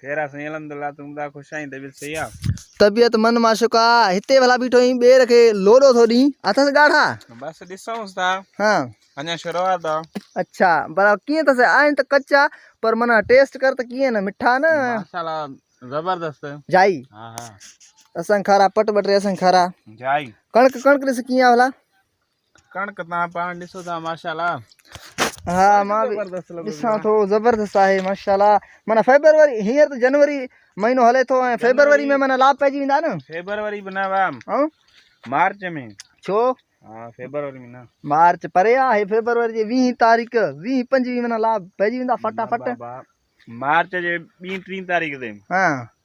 خير آ سائين الحمدلله تون ٻڌا خوش آهين طبيعت صحيح آ. طبيعت من معشوق آ. هتي ڀلا بيٺو آهين ٻير کي لوڏو ٿو ڏين اٿس ڳاڙها. بس ڏسونس ٿا اڃا شروعات آ. اڇا پر ڪيئن اٿس آهن ته ڪچا پر من ٽيسٽ ڪر ته ڪيئن نه مٺا نه. ماشاءالله زبردست. جائي ها ها. اسان کارا پٽ ٻٽ ري اسان کارا. جائي. ڪڻڪ ڪڻڪ ڏس ڪيئن آ ڀلا. ڪڻڪ تان پاڻ ڏسو ٿا ماشاءالله ها مان ڏسان ٿو زبردست آهي ماشاءالله معنی فيبروري هينئر ته جنوري مهينو هلي ٿو ۽ فيبروري ۾ معنی لاڀ پئجي ويندا نه فيبروري به نه وام ها مارچ ۾ ڇو ها فيبروري ۾ نه مارچ پري آهي فيبروري جي 20 تاريخ 20 25 معنی لاڀ پئجي ويندا فٽافٽ مارچ جي 20 30 تاريخ تي ها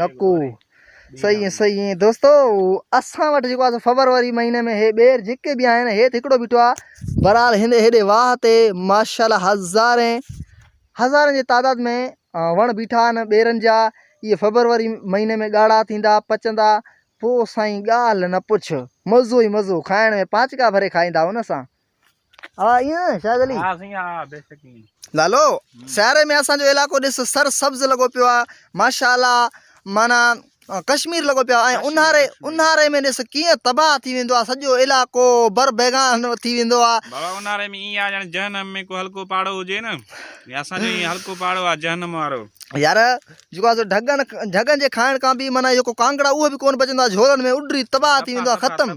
نڪو صحيح ۽ صحيح ۽ دوستو اسان وٽ جيڪو آهي فبروري مهيني ۾ هي ٻير جيڪي به آهن هيت هڪڙو بيٺو آ برحال هن هيڏي واهه تي ماشاءالله هزارين هزارين جي تعداد ۾ وڻ بيٺا آهن ٻيرن جا اهي فبروري مهيني ۾ ڳاڙها ٿيندا پچندا پوء سائين ڳالهه نه پڇ مزو ئي مزو کائڻ ۾ پانچڪا ڀري کائيندا ان سان ها ائين شاهد علي ها سائين ها بي شڪ ائين لالو سياري ۾ اسان جو علائقو ڏس سر سبز لڳو پيو آ ماشاءالله معنی ڪشمير لڳو پيو آ اونهاري اونهاري ۾ ڏس ڪيئن تباهه ٿي ويندو آ سڄو علائقو بر بيگان ٿي ويندو آ بابا اونهاري ۾ ائين آ ڄڻ جهنم ۾ ڪو هلڪو پاڙو هجي نه يا اسان جو ائين هلڪو پاڙو آ جهنم وارو يار جيڪو آ ڍڳن ڍڳن جي کائڻ کان به معنی جيڪو ڪانگڙا اهو به ڪون بچندو آ جهولن ۾ اڏري تباهه ٿي ويندو آ ختم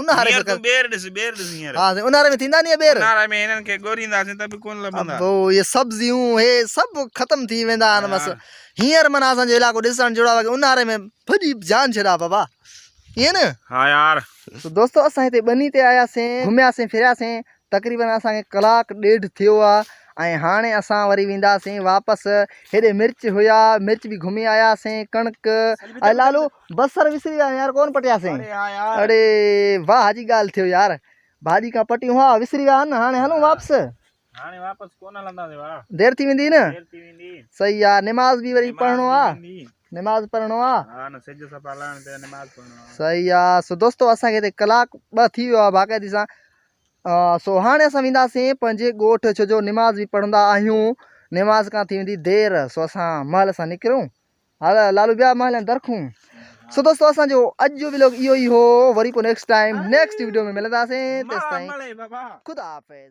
اونهاري ۾ ڪر ٻير ڏس ٻير ڏس هينئر ها سائين اونهاري ۾ ٿيندا ني اهي ٻير اونهاري ۾ هنن کي ڳورينداسين ته به ڪونه لڀندا ابو اهي سبزيون هي سڀ ختم ٿي ويندا آهن بس هينئر معنيٰ اسان جو علائقو ڏسڻ جهڙو آهي اونهاري ۾ ڀڄي جان ڇڏا بابا ائين نه ها يار تو دوستو اسان هتي ٻني تي آياسين گهمياسين ڦرياسين تقريبن اسان کي ڪلاڪ ڏيڍ ٿيو آهي ۽ هاڻي اسان وري وينداسين واپس هيڏي مرچ هيا مرچ به گهمي آياسين ڪڻڪ ۽ لالو بصر وسري ويا يار ڪون پٽياسين اڙي واھ جي ڳالھ ٿيو يار ڀاڄي کان پٽيون ها وسري ويا ھن ھاڻي ھلون واپس ھاڻي واپس ڪون ھلنداسين واھ دير ٿي ويندي نه دير ٿي ويندي صحيح يار نماز به وري پڙھڻو آ نماز پڙھڻو آ ها نه سج سپا لھڻ تي نماز پڙھڻو آ صحيح يا سو دوستو اسان کي تي ڪلاڪ ٻه ٿي ويو آ باقاعدي سان سو ھاڻي اسان وينداسين پنھنجي ڳوٺ ڇو جو نماز به پڙھندا آھيون نماز کان ٿي ويندي دير سو اسان مھل سان نڪرون هالا لالو ٻيا مال ۽ درخون. سو دوستو اسان جو اڄ جو ويلوگ اهو ئي هو وري پوء نيڪسٽ ٽائيم نيڪسٽ ويڊيو ۾ ملنداسين تيستائين خدا حافظ.